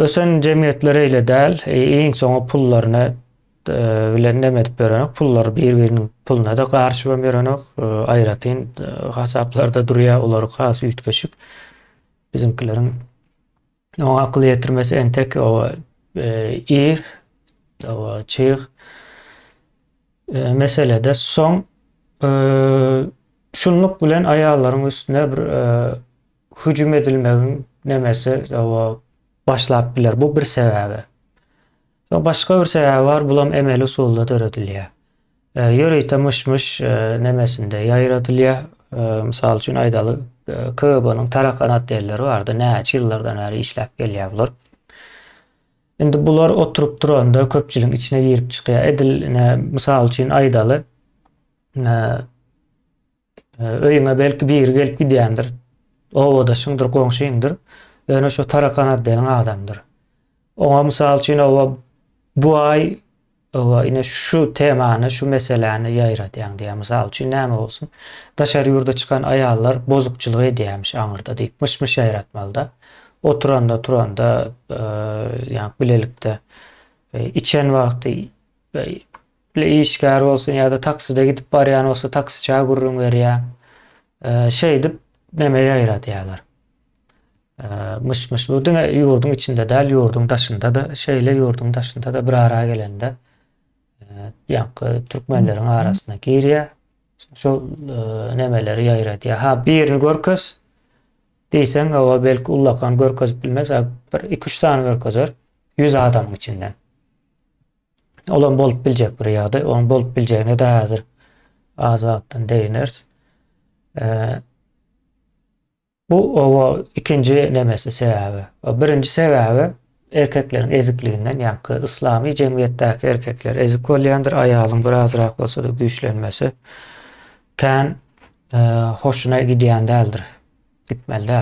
Ösen jemgyýetler eýle däl, iň soňy pullaryny bilen neme edip ýörenok, pullary bir-biriniň puluna-da garşy hem ýörenok, aýratyn hasaplarda durýar, olary has üýtgeşik. Biziňkileriň oňa akyl ýetirmesi entek oba ir, oba çyg meselede soň şunluk bilen aýallaryň üstüne bir hüjüm edilmegiň nemesi oba başlap biler. Bu bir sebäbi. Soň başga bir sebäbi bar, bulam emeli usulda döredilýär. E, ýörite myş-myş e, nemesinde ýaýradylýar. E, mysal üçin aýdaly, e, KGB-nyň tarakanat diýenleri bardy. Näçe ýyllardan bäri işläp gelýär bular. Indi bular oturyp duranda köpçüligiň içine girip çykýar. Edil, ne, mysal üçin aýdaly, e, Öýüňe belki biri gelip gidýändir. Obadaşyňdyr, goňşyňdyr. Ýöne şu tarakan atlaýan adamdyr. Oňa mysal üçin oba bu aý oba ine şu temany, şu meseläni ýaýradýaň diýýär. Mysal üçin näme bolsun? Daşary ýurda çykan aýallar bozukçylyk edýärmiş aňyrda diýip, myş-myş ýaýratmalyda. Oturanda, turanda, ýa bilelikde içen wagty Bile işgär bolsun ýa-da takside gidip barýan bolsa taksiçä gürrüň berýär. Şeýdip neme ýaýradýarlar. Myş-myş bu diňe ýurduň içinde däl, ýurduň daşynda-da şeýle, ýurduň daşynda-da bir ara gelende ýaňky türkmenleriň arasyna girýär. Şol nemeleri ýaýradýar. Ha, birini görkez diýseň, owa belki ullakan görkezip bilmez, bir iki-üç sany görkezer ýüz adamyň içinden. Olam bolup biljek bir ýagdaý. Oň bolup biljegine de häzir az wagtdan degneris. Bu owa ikinji nemesi sebäbi. Birinji sebäbi erkekleriň ezikliginden, ýa-da yslamy jemgyýetdäki erkekler ezik bolýandyr, aýalyň birazrak bolsa-da güýçlenmesi kän hoşuna gidýän däldir, gitmeli däl.